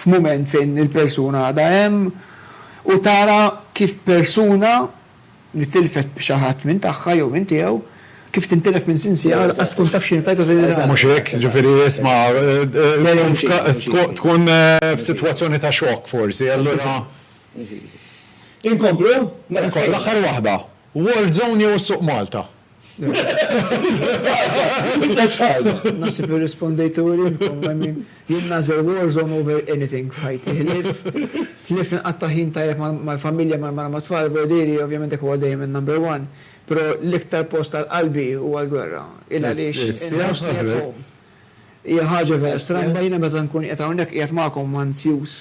f'mument fejn il-persuna għadha hemm u tara kif persuna li tilfet xi ħadd minn tagħha jew minn tiegħu, kif tintilef minn sinsiela lanqas tkun taf x'inhi l-fajda ta' din il-ħaġa. Mhux hekk? Jiġifieri isma' tkun f'sitwazzjoni ta' xokk forsi, allura. Inkomplu? Inkomplu, l-aħħar waħda. War zone jew is-suq Malta? L-istess ħaġa, l-istess ħaġa. Naħseb li rrispondejtu u lilkom, I mean, jien nagħżel war zone over anything f'ħajti. Ħlief, ħlief li nqatta' ħin tajjeb mal-familja, mal-mara, mat-tfal, vojdieri, ovvjament dak huwa dejjem in-number one, però l-iktar post għal qalbi huwa l-gwerra. Il għaliex inħossni at home. Hija ħaġa vera stramba, jiena meta nkun qiegħed hawnhekk qiegħed magħkom anzjuż.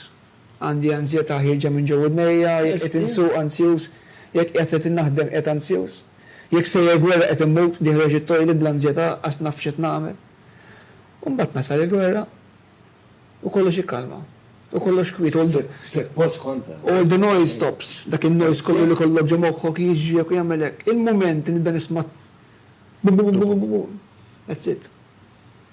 Għandi anzjetà ħierġa minn ġo widnejja, jekk qed insuq anzjuż, jekk qiegħed qed innaħdem qiegħed anzjuż, jekk sejjer gwerra qed immut, diħreġ it-toilet bl-anzjetà għax naf x'qed nagħmel. U mbagħad tasal il-gwerra u kollox jikkalma, u kollox kwiet, all the, all the noise stops, dak in-noise kollu li kollok ġo moħħok jiġriek u jagħmel hekk. Il-mument li nibda nisma' bu-bu-bu-bu-bu-bu-bu, that's it.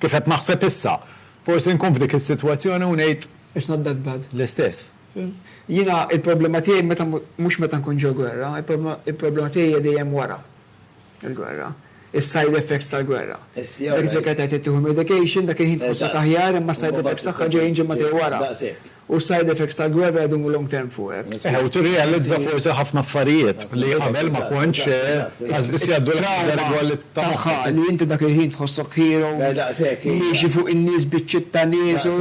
Kif qed naħseb issa, forsi nkun f'dik is-sitwazzjoni u ngħid. It's not that bad. L-istess. Jiena l-problema tiegħi meta mhux meta nkun ġo gwerra, il-problema tiegħi hija dejjem wara l-gwerra. Is-side effects tal-gwerra. Dak iż-żmien kienet tgħid tieħu l-medication, dak il-ħin tħossok aħjar imma s-side effects tagħha ġejjin ġimagħtej wara. U s-side effects tal-gwerra jdumu long term fuqek. Eħe, u tirrealizza forsi ħafna affarijiet li qabel ma kontx qas biss jgħaddulek fil-lingwa li ta' moħħok. It-trawma tagħha li inti dak il-ħin tħossok hero, miexi fuq in-nies, biċċiet ta' nies u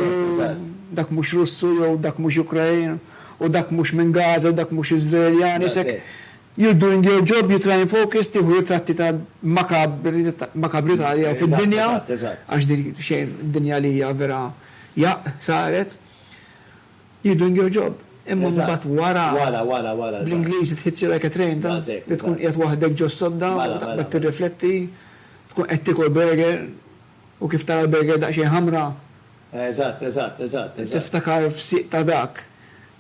dak mhux Russu jew dak mhux Ukrain u dak mhux minn Gaza u dak mhux Iżraeljan, isek you're doing your job, you try and focus, tieħu ritratti ta' makabri ta' makabri ta' li hawn fid-dinja għax din xejn, dinja li hija vera. Jaqq saret You're doing your job. Imma mbagħad wara bl-Ingliż it hits you like a train ta' li tkun qiegħed waħdek ġo s-sodda u taqbad tirrifletti, tkun qed tiekol burger u kif tara l-burger daqsxejn ħamra, tiftakar f'sieq ta' dak,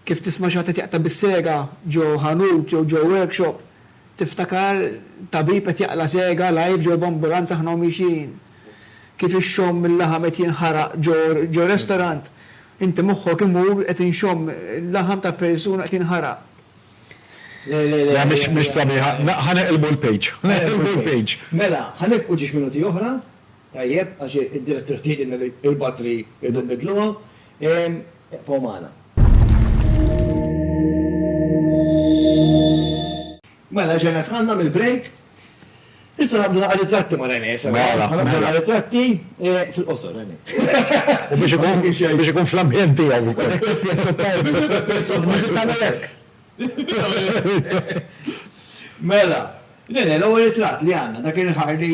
kif tisma' xi ħadd qed jaqta' bis-sega ġo ħanut jew ġo workshop, Tiftakar tabib qed jaqla' sega live ġo b'ambulanza aħna u miexjin. Kif ixxomm il-laħam qed jinħaraq ġo restorant. Inti moħħok imur qed inxomm il-laħam ta' persuna qed jinħaraq. Le, le, le. Le, mhix sabiħa. Ħa neqilbu l-page. Neqilbu l-page. Mela, ħa nifqu ġiex minuti oħra. Tajjeb, għax id-direttiva tgħidilna li l-battery irridu nbiddluha. Ibqgħu magħna. Mela, ġejna dħalna mill-break. Issa ngħaddu naqra ritratti ma' René. Mela. Ħa nibdew naqra ritratti fil-qosor, René. U biex ikun fl-ambjent tiegħu wkoll. Pjazza tajba. Pjazza tajba. Dik tagħmel hekk. Mela, René, l-ewwel ritratt li għandna dak il-ħar li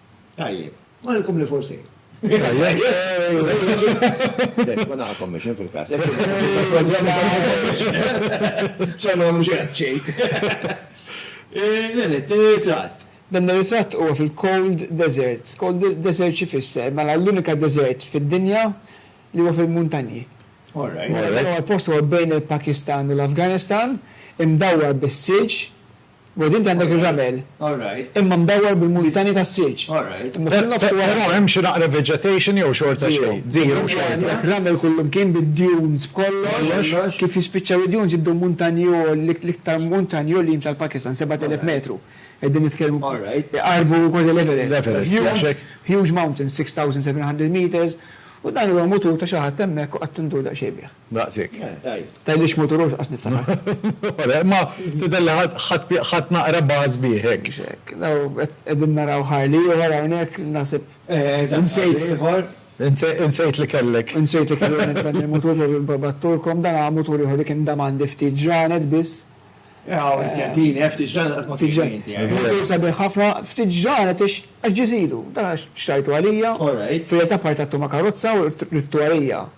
Tajjeb. Għalkom li forsi. Ma naħakom biex fil-kas. Xanu mux xejn. L-għanet, t-rizat. Dan ir-ritratt huwa fil-Cold Desert. Cold Desert xi fisser? Mela l-unika desert fid-dinja li huwa fil-muntanji. All right. Dan huwa l-post huwa bejn il-Pakistan u l-Afganistan, imdawwar bis-silġ, Wed inti għandek ir-ramel, imma mdawwar bil-muntani tas-silġ. Però hemm xi naqra vegetation jew xorta xejn? Zero. Zero. Għandek ramel kullimkien bid-dunes b'kollox. Kif jispiċċaw id-dunes jibdew muntanji għol, l-iktar muntanji għoljin tal-Pakistan, 7,000 metru. Qegħdin nitkellmu iqarrbu kważi l-Everest. Huge mountains, 6,700 meters. U dan huwa mutur ta' xi ħadd hemmhekk u qatt tindur daqsxejn bih. Daqsik. Tgħidlix mutur għax niftakar. Imma tidher li ħadt naqra baż bih hekk. Qegħdin naraw Harley ieħor hawnhekk naħseb. Insejt ieħor. Insejt li kellek. Insejt li kellek dan il-mutur li battulkom dan hu mutur ieħor li kien dam għandi ftit ġranet biss. Tjantini, ftit ġranet qatt ma kien ġejt. Mutur sabiħ ħafna, ftit ġranet għax ġie żidu. Dan xtrajtu għalija. Fil-realtà partattu ma' karozza u ridtu għalija.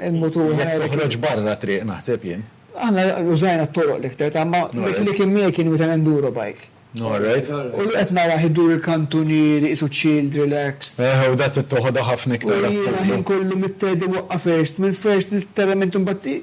Jekk toħroġ barra t-triq naħseb jien. Aħna użajna t-toroq l-iktar ta' imma dik li kien miegħi kien meta l-enduro bike. U li qed narah idur il-kantunieri qisu chilled, relaxed. Eħe u dak toħodha ħafna iktar. U jiena ħin kollu mit-third iwaqqaf first, mill-first literalment imbagħad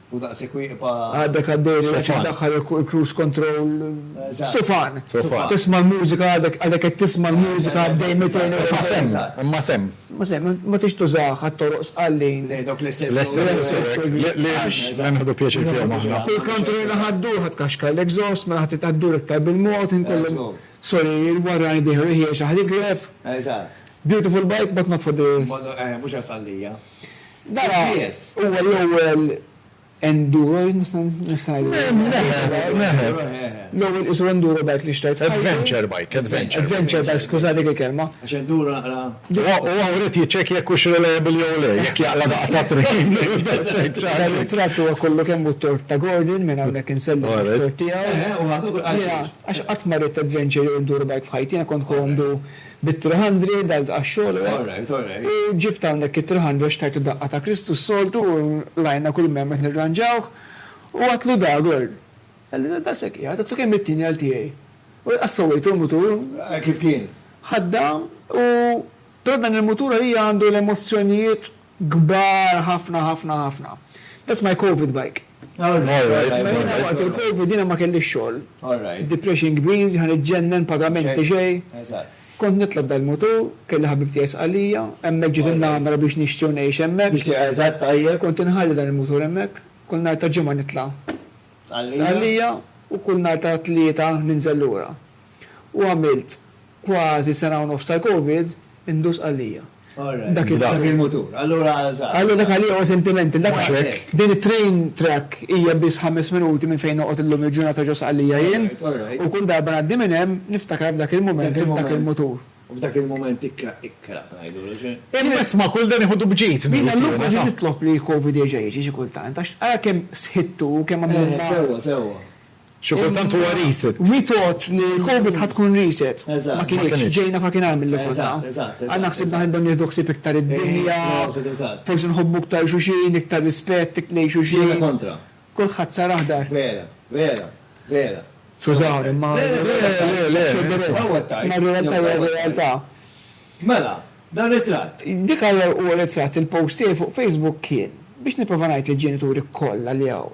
U daqshekk wieqfa. Għadek għaddej li wieħed jiddaħħal il-cruise control. Sufan. Sufan. Tisma' l-mużika għadek għadek qed tisma' l-mużika għaddej 240. Imma semm. Imma semm. Imma semm. Ma tridx tużah għat-toroq sqallin. Lejn dawk l-istess. L-istess. Li għax se nieħdu pjaċir fihom aħna. Kull country li naħa ddur ħa tkaxkar l-exhaust mela ħa titgħa ddur iktar bil-mod inkollhom. Sorry, il-warrani dieħlu ħiex aħ l-igref. Eżatt. Beautiful bike but not for the. Mhux għas-Sqallija. Dan huwa l-ewwel enduro, nista' ngħidlu. L-ewwel qisu enduro bike li xtrajt f'ħajti. Adventure bike, adventure. Adventure bike, skuża dik il-kelma. Għax enduro naqra. Huwa wrid jiċċekkja jekk hux reliable jew le, jekk jaqla' daqqa ta' tren. It-tratt huwa kollu kemm hu t-tort ta' Gordon, minn hawnhekk insellmu t-tort tiegħu. Għax qatt ma ridt adventure jew enduro bike f'ħajti, jiena kont ħu għandu. Bit-three hundred għal għax-xogħol u hekk. U ġibt hawnhekk it-three hundred għax tajtu daqqa ta' Kristu s-soltu u l-għajna kull mhemmet nirranġawh. U għadtlu da, Gurn. Għalli, Daqshekk qiegħed, għadtlu kemm it-tieni għal tiegħi. U laqas sewwejtu l-mutur. Kif kien? Ħaddam u però dan il-mutur għalija għandu l-emozzjonijiet. Kbar ħafna ħafna ħafna. That's my covid bike. Jiena waqt il-covid jiena ma kellix xogħol. Depression kbir, ġa niġġennen, pagamenti xejn. Kont nitla' dal-mutur, kelli ħabib tiegħi Sqallija, hemmhekk ġiet in-namra biex nixtri u ngħix hemmhekk. Kont inħalli dan il-mutur hemmhekk, kull nhar ta' Ġimgħa nitla' Sqallija u kull nhar ta' Tlieta ninżel lura. u għamilt kważi sena u nofs tal-Covid indur Sqallija. Dak il-mutur. Allura żgħar. Allura dak għalija huwa sentimental. Dak hekk. Din it-train track hija biss ħames minuti minn fejn noqgħod illum il-ġurnata ġo Sqallija jien. U kull darba ngħaddi minn hemm niftakar f'dak il-mument u f'dak il-mutur. U f'dak il-mument ikra, ikra, ngħidulu xejn. Jien nisma' kull dan iħodu b'ġid. Jiena llum kważi nitlob li l-Covid jerġa' jiġi xi kultant għax ara kemm sħittu u kemm għamilna. Sewwa, sewwa. Xi kultant huwa reset. We thought li l-Covid ħa tkun reset. Ma kinitx. Ġejna f'ħakin agħar milli konna. Aħna ħsibna ħa nibdew nieħdu ħsieb iktar id-dinja, forsi nħobbu iktar xulxin, iktar rispett lejn xulxin. Kulħadd sar aħdar. Skużawni, imma r-realtà hija r-realtà. Mela, dan ritratt. Dik huwa ritratt, il-post tiegħi fuq Facebook kien biex nipprova ngħid lill-ġenituri kollha li hawn.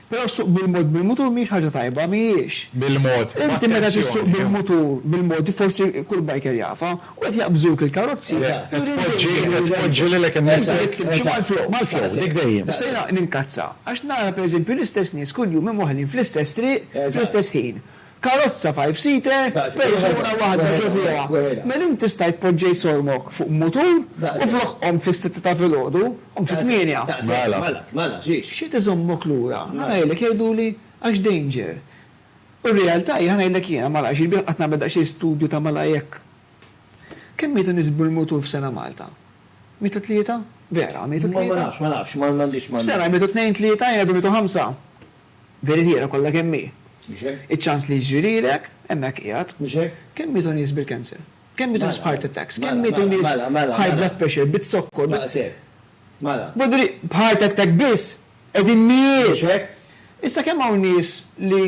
Però ssuq bil-mod bil-mutur mhijiex ħaġa tajba, mhijiex. Bil-mod, b'attenzjoni. Inti meta tissuq bil-mutur, bil-mod, forsi kull biker jafha, u qed jaqbżuk il-karozzi, qed tpoġġi, qed tpoġġi lilek innifsek. Inti trid timxi mal-flow. Mal-flow, dik dejjem. Issa jiena ninkazza għax nara pereżempju l-istess nies kuljum imwaħħlin fl-istess triq fl-istess ħin. Karozza five seater persuna waħda ġo fieha. Menn tista' jitpoġġej sormok fuq mutur u flok qom fis-sitta ta' filgħodu, qum fit-tmienja. X'qed iżommok lura? Ħa ngħidlek jgħiduli għax danger. U r-realtà hi ħa ngħidlek jiena malajr xi sbieħ qatt nagħmel daqsxejn studju ta' malajr jekk Kemm mietu nies bil-mutur f'sena Malta? Mietu tlieta? Vera, mietu tlieta? Ma nafx, ma nafx, m'għandix m'għandix. F'sena jmietu tnejn tlieta jien għadu mietu ħamsa. Veritiera kollha kemm hi. Mhux hekk? Iċ-ċans li jiġri lilek, hemmhekk qiegħed. Mhux hekk? Kemm mietu nies bil-cancer? Kemm mietu nies b'heart attacks? Kemm mietu nies. Mela, mela, mela. B'high blood pressure, bit-zokkor, bi. Daqshekk. Mela. Bodri, b'heart attack biss qegħdin mijiet! Mhux hekk? Issa kemm hawn nies li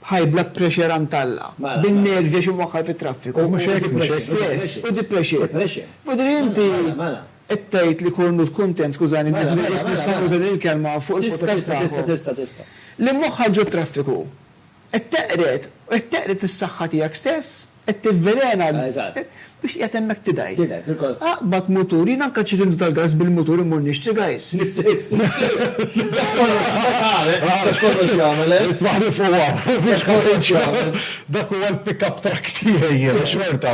b'high blood pressure għand Alla, bin-nervi għax imwaħħal fit-traffiku, u stress, u depression. Depression. Bodri inti. Mela, mela. Qed tgħid li Cornut kuntent, skużani, jekk nista' nuża din il-kelma fuq il-potajiet tagħhom. Tista', tista', tista', tista'. Li moħħha ġo traffiku. Qed teqred, u qed teqred is-saħħa tiegħek stess, qed tivvelena biex qiegħed hemmhekk tidgħi. Tidgħi, fil-kors. Aqbad mutur, jien anke ċirind tal-gass bil-mutur immur nixtri, guys. L-istess, l-istess. Dak kollox jagħmel, dak kollox jagħmel, eh? Ismagħni fuq hawn. Dak kollox jagħmel. Dak huwa l-pick-up truck tiegħi jien, xorta.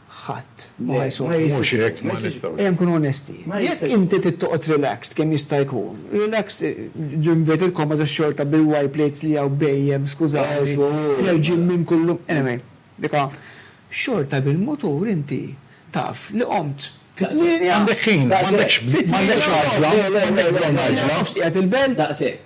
Ħadd ma ħa jsofri. Le, mhux hekk, ma nistgħux. Ejja nkunu onesti. Jekk inti trid toqgħod relaxed kemm jista' jkun, relaxed ġo inverted commas għax xorta bil-Y plates li hawn bhejjem, skużani, fl-erġien minn kull, anyway, dik ha, xorta bil-mutur inti taf li qomt fit-tmienja. M'għandekx ħin, m'għandekx bżonn għaġla, m'għandekx bżonn għaġla. Taf x'qiegħed il-belt. Daqshekk.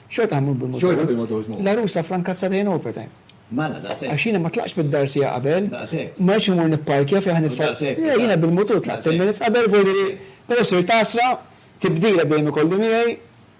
Xorta ħammur bil-motors. Xorta bil-motors mmur. L-għarusa fra nkazzata jien overtime. Mala, daqshekk. Għax jiena ma tlaqtx mid-dar siegħa qabel. Daqshekk. Ma rridx immur nipparkja fejn ħa nitfa'. Daqshekk. Le, jiena bil-mutur tlaqt ten minutes qabel, vojli li, però sirt għasra, tibdila dejjem ikolli miegħi,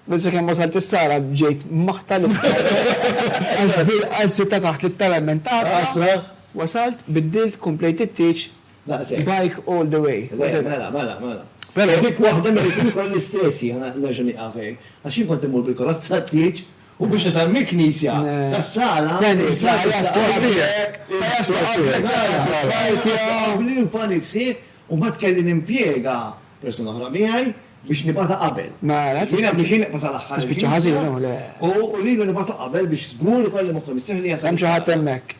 biss sakemm wasalt is-sala ġejt maħta li għax bil-qalb sirt ta' taħt litteralment għasra. Għasra. Wasalt, biddilt, komplejt it-tieġ, Daqshekk. Bike all the way. Le, mela, mela, mela. Però dik waħda mela jkun ukoll l-istess jien nerġa' nieqaf hekk. Għax jien kont immur bil-karozza għat-tieġ u biex nasal mill-knisja sas-sala. Dennis, ma jaslu qabliek. Ma jaslu qabliek. Qabli u panic sħiħ u mbagħad kelli nimpjega persuna oħra miegħi biex nibgħatha qabel. Mela. Jiena biex jien nibqa' sal-aħħar. Tispiċċa ħażin, le. U lilu nibgħatu qabel biex żgur ikolli moħħi mistrieħ li jasal. Hemm xi ħadd hemmhekk.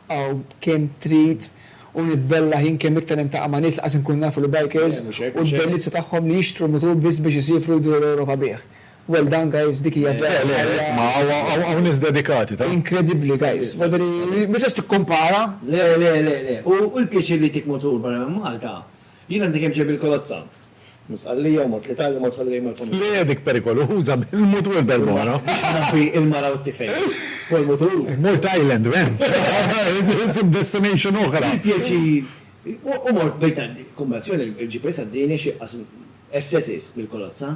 Aw kemm trid u nitbellaħ jien kemm iktar niltaqa' ma' nies li qas inkunu nafu li bikers u l-bellizza tagħhom li jixtru mutur biss biex isiefru jduru l-Ewropa bih. Well done guys dik hija vera ħajja inkredibbli guys. Mhux qed tikkumpara. Le le le le u l-pjaċir li jtik mutur barra minn Malta Jien għandi kemm xejn bil-kolozza. Minn Sqallija u mort l-Italja u mort holiday mal-familja. Le dik perikoluża bil-mutur darb'oħra. Biex inħabbi il-mara u t-tifel. Fuq il-mutur. Mort Thailand wen? Isib destination oħra. Bi pjaċir. U mort bejn tant kumbazzjoni il-GPS għaddieni xi qasm SS's bil-kolozza.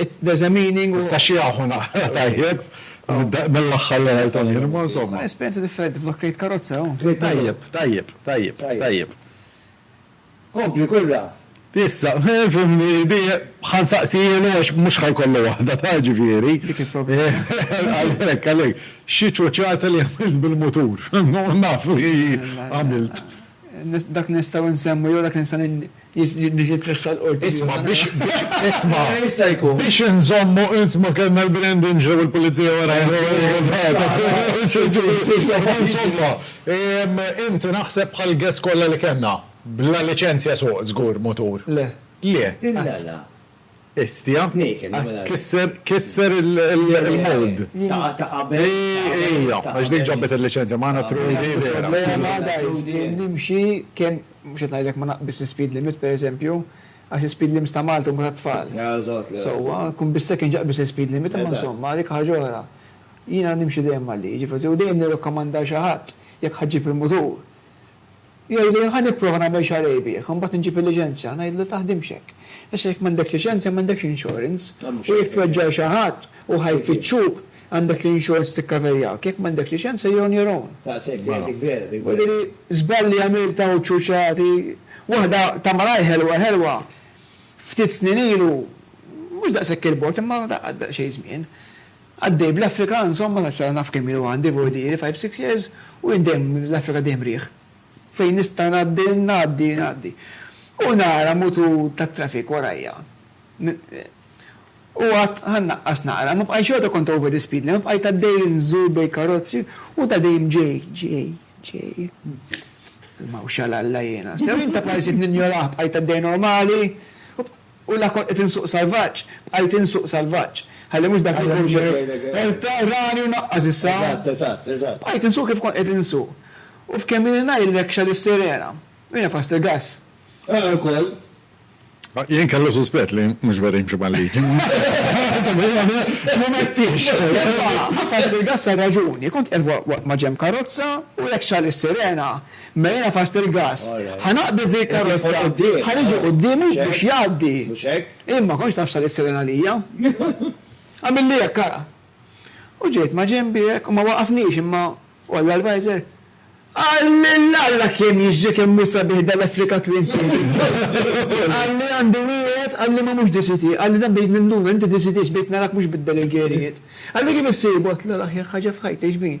Issa xi aħu naqra tajjeb mill-aħħar li rajthom jien, imma insomma. Esperjenza differenti, f'dak krejt karozza hawn. Tajjeb, tajjeb, tajjeb, tajjeb. Kompli kurra. Issa, fimni, ħa nsaqsilu għax mhux ħa jkollu waħda ta' ġifieri. Dik il-problema. Għalhekk, għalhekk, xi ċuċata li għamilt bil-mutur, naf li għamilt. Dak nistgħu nsemmu jew dak nista' Niġi tressa l-qorti. Isma' biex isma'. Jista' jkun. Biex inżommu isma' kellna l-Brandon ġew il-pulizija wara. Insomma, inti naħseb bħal guests kollha li kellna, bla liċenzja suq żgur mutur. Le. Le. Illa la. Bestia qed tkisser kisser il-mold. Ija, għax dik ġabet il-liċenzja magħna Trudy vera. Il-problema guys li nimxi kemm mhux qed ngħidlek ma naqbisx l-ispeed limit per eżempju għax l-ispeed limits ta' Malta huma tat-tfal. Sewwa, kun bis-second jaqbeż l-ispeed limit imma insomma dik ħaġa oħra. Jiena nimxi dejjem mal-liġi forsi u dejjem nirrakkomanda għal xi ħadd jekk ħa ġġib il-mutur Jgħidli, Ħa nipprova nagħmel xahar rebbieħ, imbagħad inġib il-liċenzja. Ngħidlu, Ma taħdimx hekk. Issa jekk m'għandekx liċenzja m'għandekx insurance. U jekk tweġġa' xi ħadd u ħa jfittxuk, għandek l-insurance tikkaverjak. Jekk m'għandekx liċenzja you're on your own. U diri żball li għamilt hawn ċuċċati. Waħda ta' malajr ħelwa ħelwa, ftit snin ilu, mhux daqshekk il-bogħod imma daqqa daqsxejn żmien, Għaddej bl-Afrika insomma sa sara naf kemm ilu għandi fuq ħdiri five six years u jien dejjem l-Afrika dejjem riħ. Fejn nista' ngħaddi ngħaddi ngħaddi. U nara mutur tat-traffic warajja. U għadt ħa nnaqqas naqra ma bqajtx xorta kont over the speed limit bqajt għaddej inżur bejn karozzi u ta' dejjem ġej ġej ġej. Mawx għal Alla jiena. Stew jien ta' prajsit ninjorah bqajt għaddej normali. U la kont qed insuq salvaġġ, bqajt insuq salvaġġ. Ħalli mhux dak li kont qed. Rani u naqqas issa. Eżatt, eżatt, eżatt. Bqajt insuq kif kont qed insuq. U f'kemm ilni ngħidlek x'għad is-sirena. U jiena fost il-gass. Ara wkoll. Jien kellu suspett li mhux vera jimxi mal-liġi. M'għettix. Imma, qafas bil-gass għar-raġuni. Kont qiegħed waqt ma' ġenb karozza u hekk x'għad is-sirena. Mela jiena fast il-gass. Ħa naqbid fil-karozza. Ħa niġi quddiemu biex jgħaddi. Jien ma kontx naf x'sa jisseren għalija. Għamilli hekk ara. U ġejt ma' ġenbi hekk u ma waqafnix imma u għalla l-visor, Qalli l-Alla kemm jiġri kemm hu sabiħ dal-Africa Twin City. Qalli għandu wieħed, qalli ma mhux DCT. Qalli dan bdejt ninduna, inti DCT, bdejt narak mhux bid-delegerijiet. Qalli kif issib? Għedtlu l-aħjar ħaġa f'ħajti x'bin?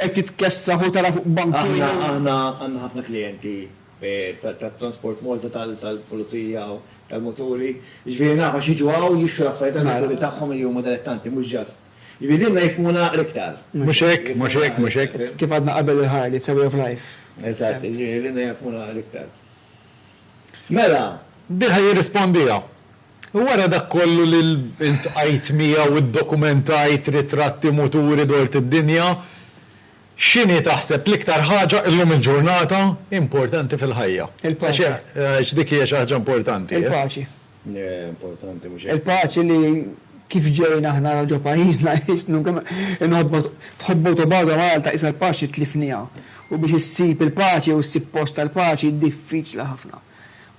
Qed titkessaħ u tara fuq bank twil. Aħna aħna għandna ħafna klijenti ta' Transport Malta tal-pulizija u tal-muturi. Jiġifieri naf għax jiġu hawn jixtru l-affarijiet tal-muturi tagħhom li huma dilettanti mhux just. Jiġifieri lilna jifhmuna l-iktar. Mhux hekk, mhux hekk, mhux hekk. Kif għadna qabel il-Harley, it's a way of life. Eżatt, jiġifieri lilna jifhmuna l-iktar. Mela, diha jirrispondiha, U wara dak kollu li ltqajt miegħu u ddokumentajt ritratti muturi dort id-dinja, x'inhi taħseb l-iktar ħaġa llum il-ġurnata importanti fil-ħajja? Il-paċi. Għax dik hija xi ħaġa importanti. Il-paċi. Il-paċi li kif ġejna aħna ġo pajjiżna tħobbu tobgħodha Malta qisha l-paċi tlifniha u biex issib il-paċi u ssib post tal-paċi diffiċli ħafna.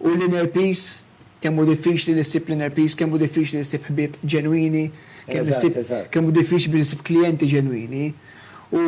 U l-inner peace kemm hu diffiċli li ssib l-inner peace, kemm hu diffiċli li ssib ħbieb ġenwini, kemm hu diffiċli biex issib klijenti ġenwini. U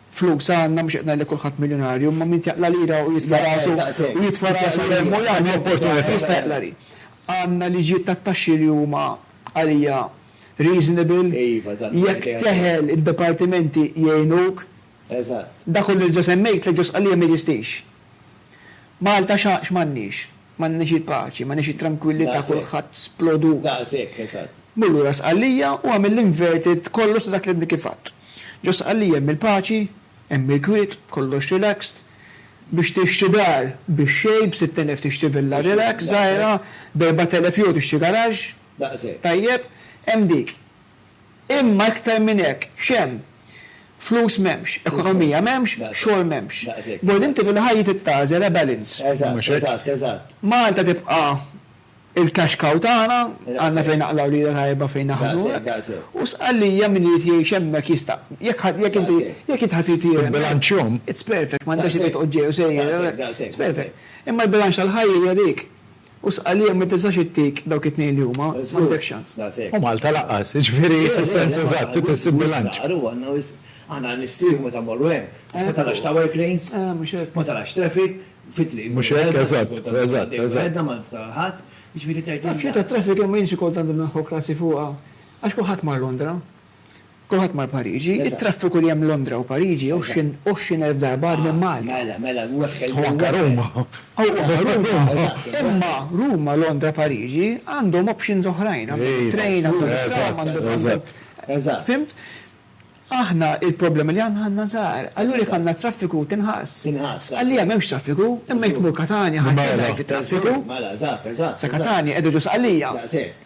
Flus għandna, mhux qed ngħid li kulħadd miljunarju, imma min tjaqla' lira u jitfa' rasu u jitfa' rasu li hemm u li għandu opportunità jista' jaqla' li. Għandna liġijiet tat-taxxi li huma għalija reasonable. Jekk teħel id-dipartimenti jgħinuk. Dak kollu li ġa semmejt, tliet ġus qalija ma jeżistix. Malta x'għandniex? M'għandniex il-paċi, m'għandniex it-trankwillità kulħadd splodut. Daqs hekk, eżatt. Mur lura Sqallija u għamel l-inverted kollox ta' dak li għadni kif għadt. Ġo Sqallija hemm il-paċi, hemm il-kwiet, kollox relaxed. Biex tixtri dar bix-xejn, b'sitt elef tixtri villa relax żgħira, b'erbat elef jew tixtri garaxx. Daqs hekk. Tajjeb, hemm dik. Imma iktar minn hekk, x'hemm? Flus m'hemmx, ekonomija m'hemmx, xogħol m'hemmx. B'mod inti fil-ħajja trid tagħżel, a balance. Mhux hekk? Malta tibqa' il-cash cow tagħna, għandna fejn naqlgħu lira tajba fejn naħdmu hekk. U Sqallija min irid jgħix hemmhekk jista'. Jekk ħadd, jekk inti, jekk int ħadd irid jgħix hemmhekk, it's perfect, m'għandekx għalfejn toqgħod ġej u sejjer, it's perfect. Imma l-bilanċ tal-ħajja hija dik. U Sqallija ma tistax ittik dawk it-tnejn li huma, m'għandekx ċans. U Malta lanqas, jiġifieri fis-sens eżatt trid issib bilanċ. Mhux hekk? Eżatt, eżatt, eżatt. Taf xi ta' traffic hemm ma jienx ikollu tant imnaħħu krasi fuqha għax kulħadd mar Londra. Kulħadd mar Pariġi. It-traffiku li hemm Londra u Pariġi għoxrin għoxrin elf darba agħar minn Malta. Mela, mela, weħel. U anke Ruma. U anke Ruma, eżatt. Imma Ruma, Londra, Pariġi għandhom options oħrajn. Għandhom it-trejn, għandhom it-tram, għandhom. Eżatt, eżatt. Fhimt? Aħna il-problemi li għandna għandna żgħar. Allura jekk għandna traffiku tinħass. Tinħass. Sqallija m'hemmx traffiku, imma jekk tmur Katanja ħadd jgħid traffiku. Mela, eżatt, eżatt. Sa Katanja qiegħda ġo Sqallija. Daqshekk.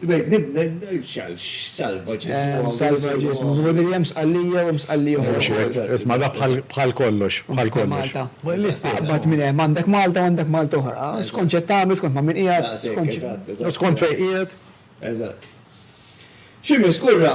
Hemm salvaġġ ismu Billy Williams, Sqallija u Msqallija oħra. Isma' da bħal kollox, bħal kollox. Aqbad minn hemm għandek Malta u għandek Malta oħra. Skont x'qed tagħmel, skont ma' min qiegħed, skont. Skont fejn qiegħed. Xi miss kurra.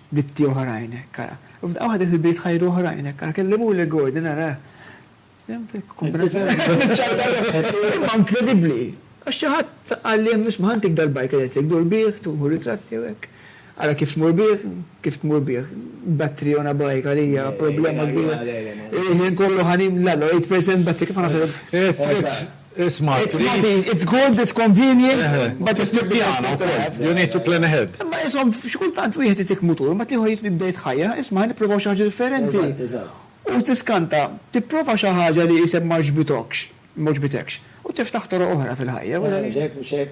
Ditti oħrajn hekk ara. U f'daqqa waħda fil-bini tħajru oħrajn hekk ara. Kellimuli Gordon ara. Fhimt il-kumplament? Imma inkredibbli. Għax xi ħadd qalli hemm isma' ħantik dal-bike electric dur bih, tieħu ritratti u hekk. Ara kif tmur bih, kif tmur bih. Battery on a bike għalija problema kbira. Il-ħin kollu ħa nimla l-8% battery kif ħa nasal. It's not easy. It's not easy. It's good, it's convenient, but it's not the best thing to have. You need to plan ahead. Imma insomma, xi kultant wieħed itik mutur, imbagħad ieħor jitlob jibda jitħajjar, isma' ħa nipprovaw xi ħaġa differenti. Eżatt, eżatt. U tiskanta, tipprova xi ħaġa li qisek m'għaġbitokx, m'għoġbitekx, u tiftaħ toroq oħra fil-ħajja. Mhux hekk, mhux hekk.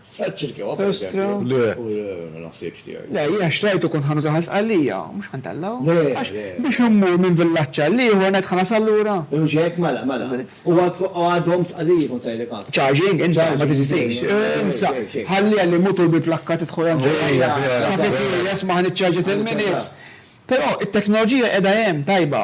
Sa ċ-ċirkewa pereżempju. Le. U ma naħsibx tiegħi. Le, jiena xtrajtu kont ħa nużah għal Sqallija, mhux ħa ntellgħu. Le, le. Għax biex immur minn villaġġ għal ieħor ngħid ħa nasal lura? Mhux hekk, mela, mela. U għadhom Sqalliji kont se ngħidlek għad. Charging, insa, ma teżistix. Insa, ħalliha li mutur bil-plakka tidħol hemm ġewwa. Kafeterja, smaha niċċarġja ten minutes. Però t-teknoloġija qiegħda hemm, tajba.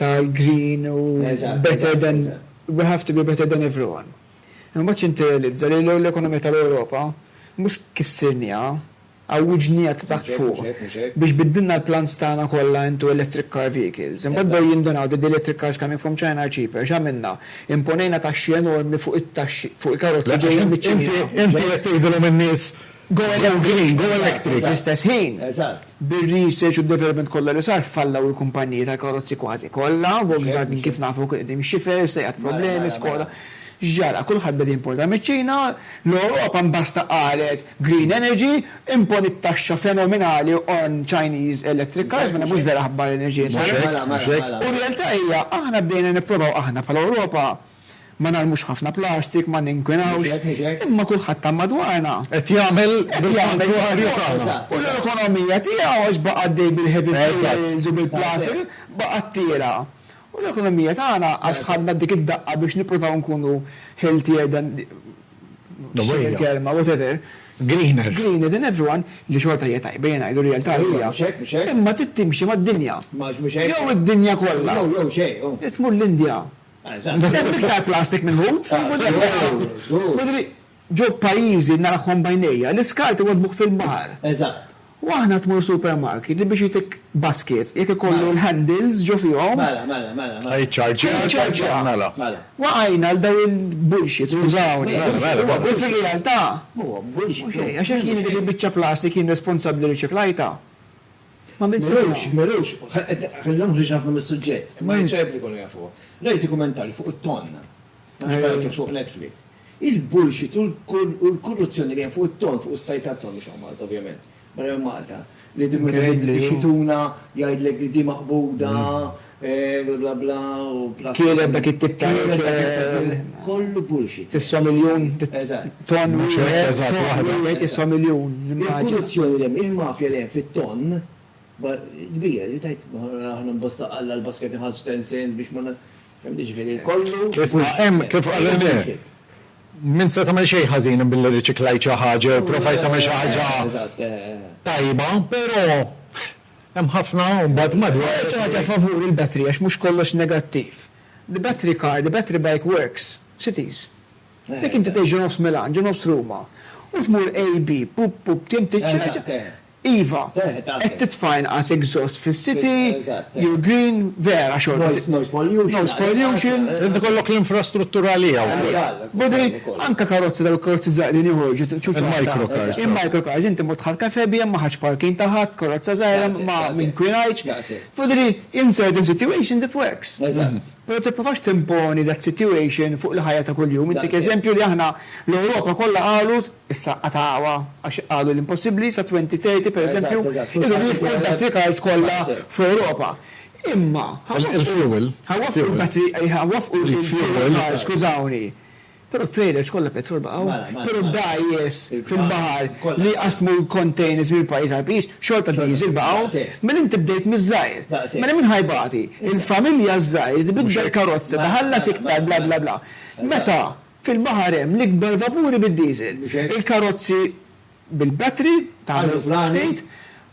tal-green u better than we have to be better than everyone. Imma mbagħad x'inti realizza li l-ekonomija tal-Ewropa mhux kissirnieha, għawwiġnieha ta' taħt fuq biex biddilna l-plans tagħna kollha into electric car vehicles. Imbagħad bdew jindunaw that the electric cars coming from China are cheaper. X'għamilna? Imponejna taxxi enormi fuq it-taxxi, fuq il-karozzi ġejjin miċ-Ċina. Inti qed tgħidilhom in-nies go green, go electric. Fl-istess ħin, Bir-research u d-development kollha li sar fallaw il-kumpaniji tal-karozzi kważi kollha, Volkswagen kif nafu kien qed imxi ferm, issa jgħadd problemi, Skoda. X'ġara? Kulħadd beda jimporta miċ-Ċina, l-Ewropa mbasta qalet green energy, imponiet taxxa fenomenali on Chinese electric cars, mela mhux vera aħbar l-enerġija Ċina. U r-realtà hija aħna bdejna nipprovaw aħna bħala Ewropa Ma narmux ħafna plastik, ma ninkwinawx, imma kulħadd ta' madwarna. Qed jagħmel bil-kontwarju tagħna. U l-ekonomija tiegħu għax baqa' għaddej bil-heavy fuels u bil-plastik, baqgħet tiela'. U l-ekonomija tagħna għax ħadna dik id-daqqa biex nippruvaw nkunu healthier than the, x'inhi l-kelma, whatever. Greener. Greener than everyone, li xorta hija tajba, ejja ngħidu r-realtà hija. Imma trid timxi mad-dinja. Jew id-dinja kollha. Trid tmur l-Indja. Hemm iktar plastik mill-ħut fil-mudell. Ġo pajjiżi narahom b'għajnejja, l-iskart iwaddbuh fil-baħar. U aħna tmur supermarket li biex jtik basket jekk ikollu l-handles ġo fihom. Mela, mela, mela. Ħa jiċċarġja. Ħa jiċċarġja. Mela. Mela. Waqajna għal dawn il-bullshits, skużawni. Mela, mela, mela. U fir-realtà. Mhuwa bullshit. Mhux hekk, għax jekk jiena dik il-biċċa plastik jien responsabbli riċiklajtha. Ma għamiltux hekk. M'għamiltux, m'għamiltux. Ħalli nagħmlu ħriġna ħafna mis-suġġett. Imma jien x'għajb li jkollu jafuha? Rajt dokumentarju fuq it-tonn. Ma nafx jekk rajtuhx fuq Netflix. Il-bullshit u l-korruzzjoni li hemm fuq it-tonn, fuq is-sajd tat-tonn, mhux hawn Malta ovvjament, barra minn Malta, li meta jgħidlek ix-xituna jgħidlek li din maqbuda, Kielet dak it-tip ta' ikel. Tiswa miljun tonn wieħed, tonn wieħed jiswa miljun, nimmaġina. Isma', hemm, kif qal René, min se tagħmel xejn ħażin billi rriċiklajt xi ħaġa jew pprovajt tagħmel xi ħaġa tajba, però Hemm ħafna mbagħad madwar. Għamilt xi ħaġa favur il-battery għax mhux kollox negattiv. The battery car, the battery bike works. Cities. Jekk inti tgħix ġo nofs Milan, ġo nofs Ruma, u tmur AB, pup pup tim tiċċieċa, iva, qed titfa' inqas exhaust fis-city, you're green, vera xorta. Noise pollution. Noise pollution. Irid ikollok l-infrastruttura għaliha wkoll. Vedri, anke karozzi dawk il-karozzi żgħar li joħorġu ċuċata. Il-microcars. Il-microcars, inti mort tħall kafè bihom ma ħadx parking ta' ħadd, karozza żgħira ma inkwinajtx. Vedri, in certain situations it works. Eżatt. Però tipprovax timponi that situation fuq il-ħajja ta' kuljum. Intik eżempju li aħna l-Ewropa kollha qalu, issa qatgħuha għax qalu l-impossibbli, sa 2030 pereżempju, iridu jifqu l-battery cars kollha fl-Ewropa. Imma, ha waffqu. Il-fuel. Ha waffqu l-batteriji, ha waffqu l-fuel. Skużawni. Però t-trailers kollha petrol baqgħu. Mela, mela. Però d-dgħajjes fil-baħar li jqassmu l-containers minn pajjiż għal pajjiż, xorta d-diesel baqgħu. Mela inti bdejt miż-żgħir. Daqshekk. Mela min ħa jbati? Il-familja ż-żgħir li tbiddel karozza, tħallas iktar, bla bla bla. Meta fil-baħar hemm l-ikbar vapuri bid-diesel, il-karozzi bil-battery, tagħmel ftit.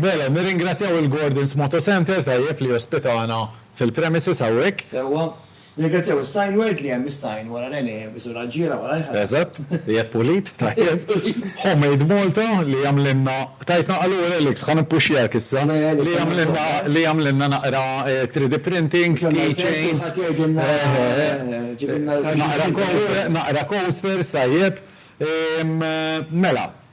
Mela, nirringrazzjaw il-Gordon's Moto Centre, tajjeb, li jospitana fil-premises hawnhekk. Sewwa. Nirringrazzjaw is-Signword li hemm is-sign wara l-għene isu l-għaġġiela wara l-ħela. Eżatt. Qiegħed pulit, tajjeb. Homemade Malta li jagħmlilna, tajtna qalur Alex, ħa nippuxxjak issa, li jagħmlilna li jagħmlilna naqra 3D printing, key chains, naqra coasters, tajjeb. Mela,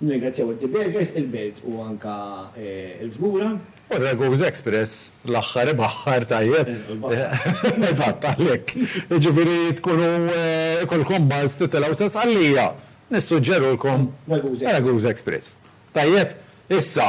Nirringrazzjaw id-De Bergers, il-Belt u anke l-Fgura. U r-Ragusa Express l-aħħar ibaħħar tajjeb. Neżlu l-baħħar. Eżatt, għalhekk. Jiġifieri tkunu ikolkom buzz titilgħu sa Sqallija, nissuġġerulkom Ragusa Express. Tajjeb? Issa,